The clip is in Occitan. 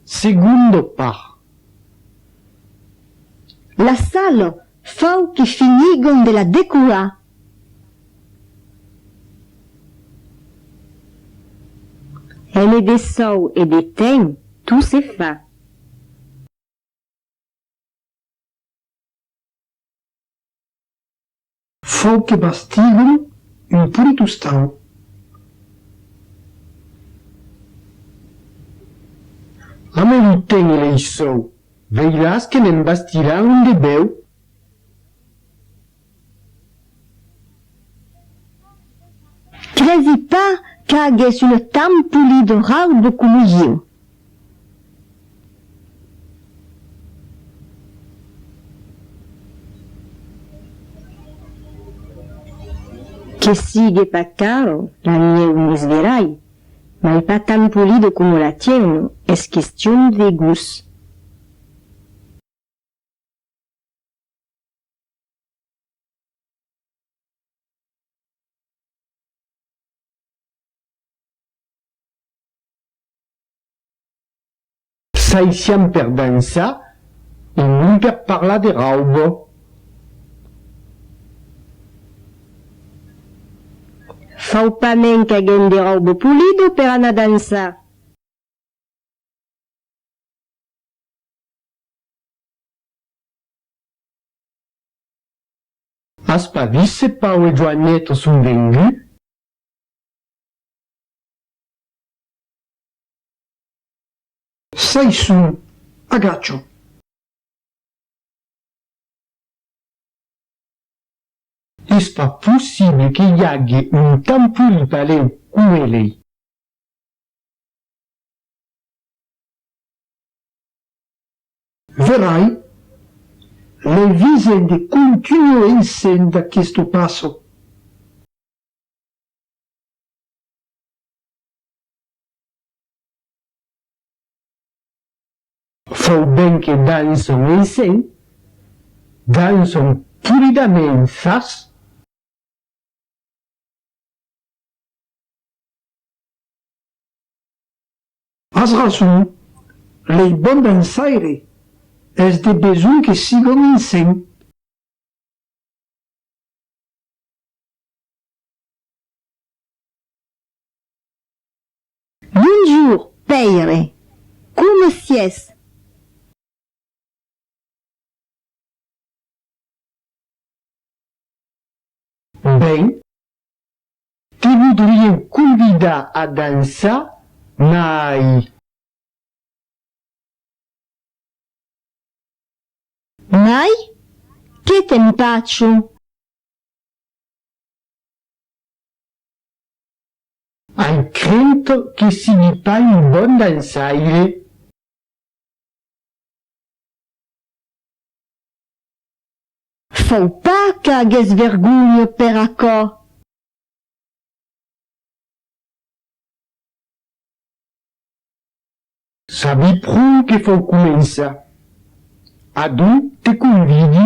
Segundo par. La sal fau que finigom de la decorar. Hène de sòu e de tèm, tu se fa. Fau que bastiguem un polit ostau. La mai lo tene lei sòu. Veiràs que ne'n bastirà un de bèu. Cresi pas qu'agès un tan polit raubo como ieu. Que sigue pas caro, l'anhèu mos verai, mai pas tan polido coma la tièuna, es question de gust. S'aissián per dansar e non per parlar de raubo. Fau pas men qu'agen de raubo pulido per anar dansar. As pas vist se Pau e Joaneta son venguts? Çai son, agachò. Es pas possible que i age un tan poli paleu com elei. Verai, lei visent e continuo eissent d'aquesto passo. Fau ben que Dan son eisen, Dan son polidament fas. As rason, lei bon dançaire, es de besonh que sigom ensemp. Bonjour, pèire! Coma sies? Ben, te vodrieu convidar a dançar, mai. Mai? Que t'empatjo! Ai crento que sigui pas un bon dançaire. Fau pas qu'agues vergonha per aquò. Sabi pr'on que fau començar. Adon te convidi.